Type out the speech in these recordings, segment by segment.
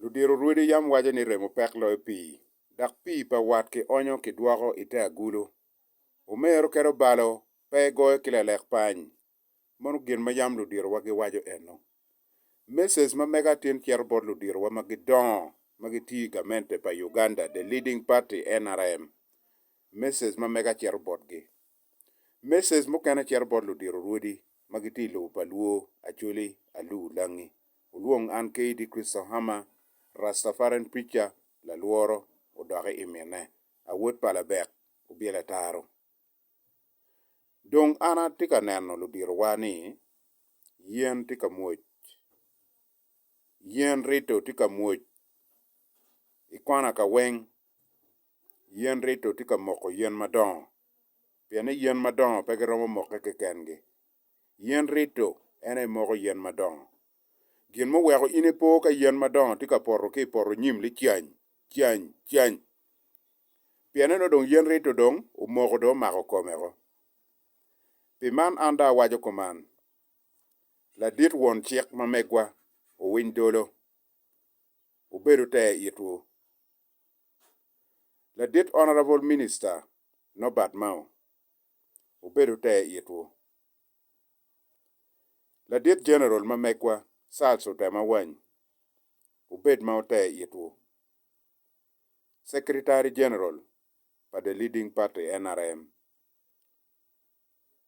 Ludiro rwodi yam waco ni remo pek loyo pii, dok pii pa wat kionyo kidwoko i te agulu. Omero kede obalo pe egoyo ki lalek pany. Mono gin ma yam ludirowa giwaco eno. Meses ma mega atin cito bot ludirowa ma gidongo ma gitiyo i gamente pa Uganda The Leading Party, nrm. Meses ma mega cito botgi. Meses mukene cito bot ludiro rwodi ma gitye i lobo pa Luo, Acholi, Aluu, Langi, wulwong an KD Christo Hammer, Rastafarian Preacher, Lalworo, odoki i mine, Awot pa Labek, Obyelo Ataro. Dong an atye ka neno ludirowa ni yen tye ka mwoc. Yen rito tye ka mwoc i kona ka weng. yen rito tye ka moko yen madongo, pien ni yen madongo pe giromo mokke kekengi. Yen rito en aye moko yen madongo. Gin muweko in ipo ka yen madongo tye ka poto ki i poto nyim ni cany, cany, cany! Pienni nongo dong yen rito dong omoko dong omako komeo. Pi man an dong awaco kuman, Ladit won cik ma megwa, owiny dolo, wubedo te itwu. Ladit Honourable Minister Norbert Mao obedo ter itwu. Ladit General ma megwa Charles Otema Wany obed ma oter itwu. Secretary General pa The Leading Party, nrm,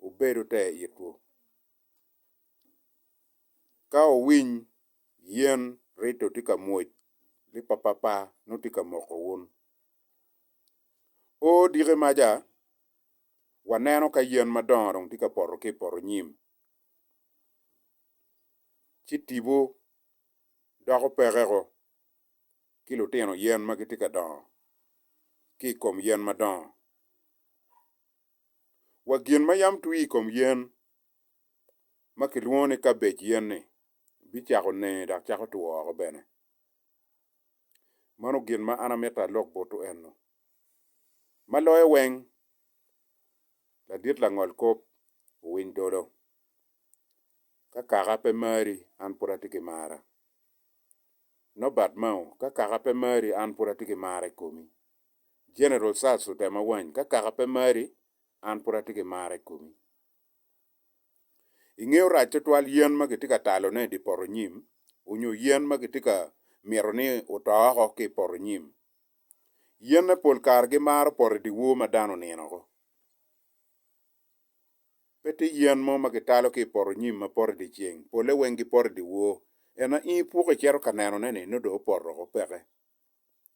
wubedo te itwu. Ka wuwiny yen rito tye ka mwoc, lipapapa nongo tye ka moko wun. O diki maca, waneno ka yen madongo dong tye ka poto ki i poto nyim, ci tipo doko pekeko ki lutino yen ma gitye ka dongo ki i kom yen madongo. wa gin ma yam twi i kom yen ma kilwongo ni kabej yen-ni bicako nene dok cako two woko bene. Mano gin ma an amito alok butu ennu. Ma loyo weng, ladit langol kop owiny dolo. Ka kaka pe mari, an pud atye ki mara. Nobat mao, ka kaka pe mari, an pud atye ki mara i komi. General Sars otema wany ka kaka pe mari an pud atye ki mar i komi. I nge orac tutwal yen ma kitye ka talo ne di poto nyim onyo yen ma kitye ka mito ni oto oko ki i poto nyim. Yen ne pol kare gi maro poto i di wor ma dano onino oko. Pe tye yen mo ma kitalo ki i poto nyim ma poto i di ceng, pole weng gi poto i di wor. Ena in ipuko icito ka neno ne ni nongo dong opoto oko peke.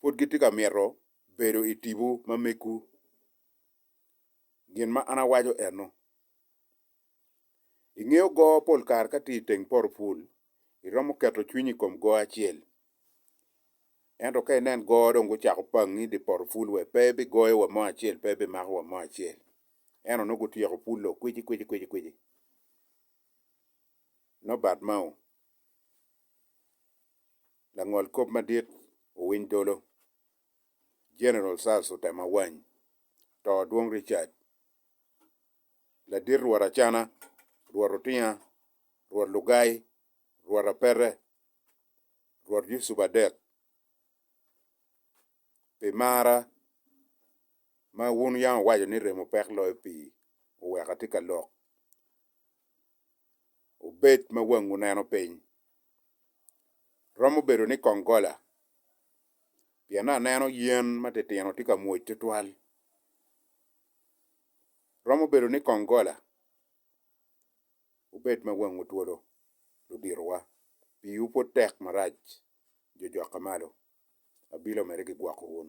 pud gitye ka mito bedo i tipo ma megwu. Gin ma an awaco eno, ingeyo goo pol kare ka tye i teng poto pul, iromo keto cwinyi i kom goo acel. Ento ka inen goo dong gucako pangngi i dye poto pul wa, pe ibigoyo wa mo acel, pe ibimako wa mo acel. Ento nongo gutyeko pul lok kwici kwici kwici kwici. Nobat mao. Langol kop madit owiny dolo. General Sars otemo awany. To Adwong Richard. Ladit Rwot Acana, Rwot Otinga, Rwot Lugai, Rwot Apete, Rwot Yusup Adek, pi marra ma wun wuyang wuwaco ni remo pek loyo pii, wuweko atye ka lok. wubed ma wangwu neno piny. Romo bedo ni kong gola, pien aneno yen matitino tye ka mwoc tutwal. Romo bedo ni kong gola, wubed ma wangwu twolo, luditowa, piwu pud tek marac, jojokka malo, abilo mere gigwoko wun.